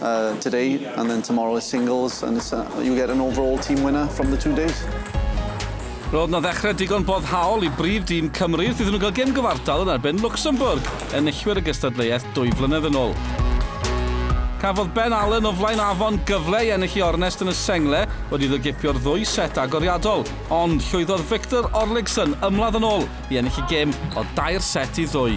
uh, today and then tomorrow is singles and it's, uh, you get an overall team winner from the two days. Roedd na ddechrau digon boddhaol i brif dîm Cymru wrth iddyn nhw gael gem gyfartal yn erbyn Luxembourg, enillwyr y gystadleuaeth dwy flynedd yn ôl. Cafodd Ben Allen o flaen afon gyfle i ennill i ornest yn y sengle wedi iddo gipio'r ddwy set agoriadol, ond llwyddodd Victor Orligson ymladd yn ôl i ennill y gem o dair set i ddwy.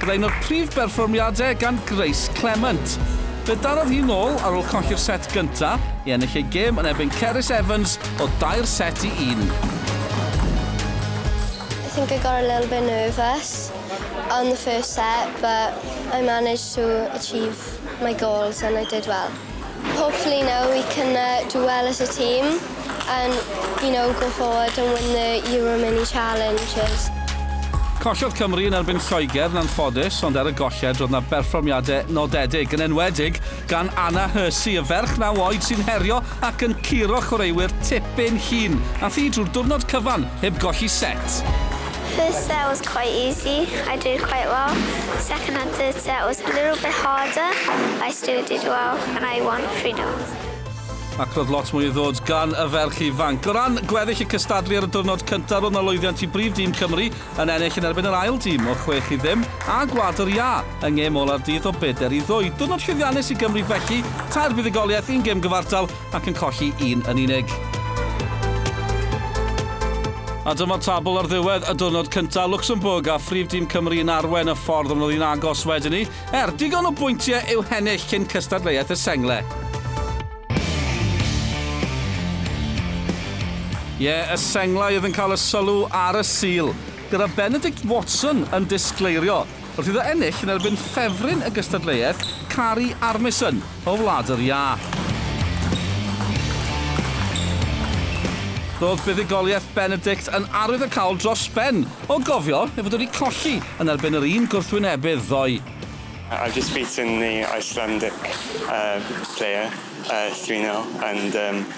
Byddai un o'r prif berfformiadau gan Grace Clement. Fe darodd hi nôl ar ôl colli'r set gynta' i ennill ei gêm yn erbyn Cerys Evans o dair set i un. I think I got a little bit nervous on the first set but I managed to achieve my goals and I did well. Hopefully now we can uh, do well as a team and, you know, go forward and win the Euro Mini Challenges. Collodd Cymru yn erbyn Lloegr yn anffodus, ond ar y golled roedd yna berfformiadau nodedig, yn enwedig gan Anna Hursey, y ferch naw oed sy'n herio ac yn curo chwaraewyr tipyn hun, a thi drwy'r diwrnod cyfan heb golli set. First set was quite easy, I did quite well. Second and third set was a little bit harder, I still did well and I won three notes. Ac roedd lot mwy i ddod gan y ferch ifanc. O ran gweddill y cystadlu ar y diwrnod cyntaf, roedd na lwyddiant i brif dîm Cymru yn ennill yn erbyn yr ail dîm o chwech i ddim a Gwlad yr Iâ yng ngêm ola'r dydd o bedair i ddwy. Diwrnod llwyddiannus i Gymru felly, tair buddugoliaeth, un gêm gyfartal ac yn colli un yn unig. A dyma tabl ar ddiwedd y diwrnod cyntaf, Luxembourg a phrif dîm Cymru yn arwain y ffordd ond roedd hi'n agos wedyn ni, er digon o bwyntiau i'w hennill cyn cystadleuaeth y Sengle. Ie, yeah, y senglau oedd yn cael y sylw ar y Sul, gyda Benedict Watson yn disgleirio Wrth iddo ennill yn erbyn ffefryn y gystadleuaeth, Kari Armisen o Wlad yr Iâ. Roedd buddugoliaeth Benedict yn arwyddocaol dros ben, o gofio ei fod wedi colli yn erbyn yr un gwrthwynebydd ddoe. I've just beaten the Icelandic player, Three Nil, and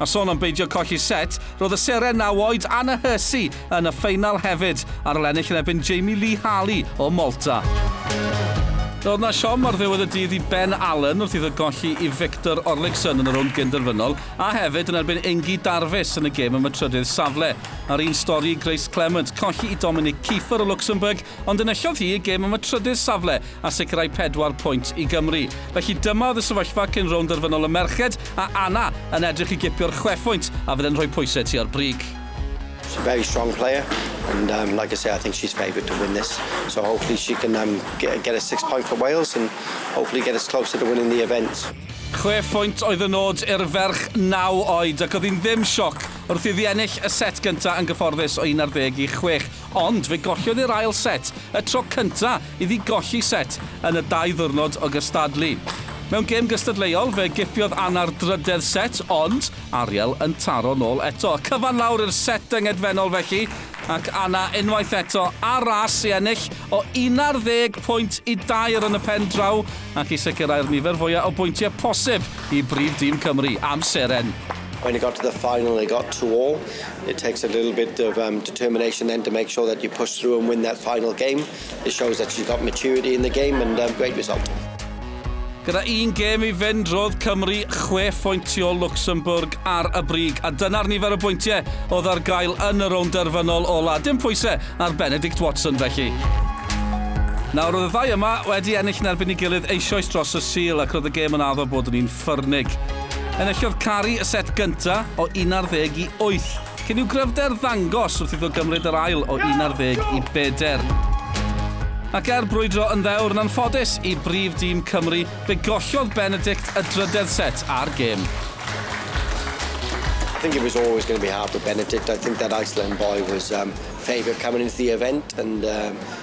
A sôn am beidio colli set, roedd y seren naw oed Anna Hursey yn y ffeinal hefyd, ar ol ennill yn erbyn Jamie Lee Harley o Malta. Roedd 'na siom ar ddiwedd y dydd i Ben Allen wrth iddo golli i Viktor Orliksson yn y rownd gynderfynol, a hefyd yn erbyn Ingi Darvis yn y gêm am y trydydd safle. A'r un stori i Grace Clement, colli i Dominic Kieffer o Luxembourg Ond enillodd hi y gêm am y trydydd safle a sicrhau pedwar pwynt i Gymru. Felly dyma oedd y sefyllfa cyn rownd derfynol y merched, a Anna yn edrych i gipio'r chwe phwynt a fydd e'n rhoi pwysau tua'r brig. She's a very strong player and um, like I say, I think she's favoured to win this. So hopefully she can um, get, get a six point for Wales and hopefully get us closer to winning the event. Chwe phwynt oedd y nod i'r ferch naw oed ac oedd hi'n ddim sioc wrth iddi ennill y set gyntaf yn gyfforddus o 11 i 6. Ond fe golliodd i'r ail set, y tro cynta' iddi golli set yn y dau ddiwrnod o gystadlu. Mewn gêm gystadleuol, fe giffiodd Anna'r drydedd set, ond Ariel yn taro nôl eto. Cyfan lawr i'r set yngedfennol felly, ac Anna unwaith eto ar ras i ennill o 11 pwynt i dair yn y pen draw, ac i sicrhau'r nifer fwya' o bwyntie' posib i brif dîm Cymru am seren. When it got to the final it got two all, it takes a little bit of erm determination then to make sure that you push through and win that final game, it shows that she's got maturity in the game and erm great result. Gyda un gêm i fynd, roedd Cymru chwe phwynt tu ôl Luxembourg ar y brig, a dyna'r nifer o bwyntiau oedd ar gael yn y rownd derfynol ola. Dim pwysau ar Benedict Watson felly. Nawr, roedd y ddau yma wedi ennill yn erbyn ei gilydd eisoes dros y Sul ac roedd y gêm yn addo bod yn un Ffyrnig. Enillodd Cari y set gynta o 18 i 8, cyn i'w gryfder ddangos wrth iddo gymryd yr ail o 11 i beder. Ac er brwydro yn ddewr yn anffodus i brif dîm Cymru, fe gollodd Benedict y drydedd set a'r gêm. I think it was always going to be hard for Benedict. I think that Iceland boy was um, favourite coming into the event, and um,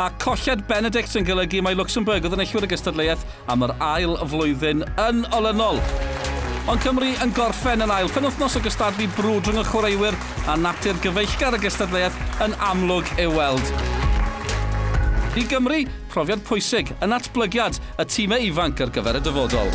a colled Benedict yn golygu mai Luxembourg oedd yn enillwyr y gystadleuaeth am yr ail flwyddyn yn olynol. Ond Cymru yn gorffen yn ail penwythnos o gystadlu brwd rhwng y chwaraewyr a natur gyfeillgar y gystadleuaeth yn amlwg ei weld. I Gymru, profiad pwysig yn natblygiad y timau ifanc ar gyfer y dyfodol.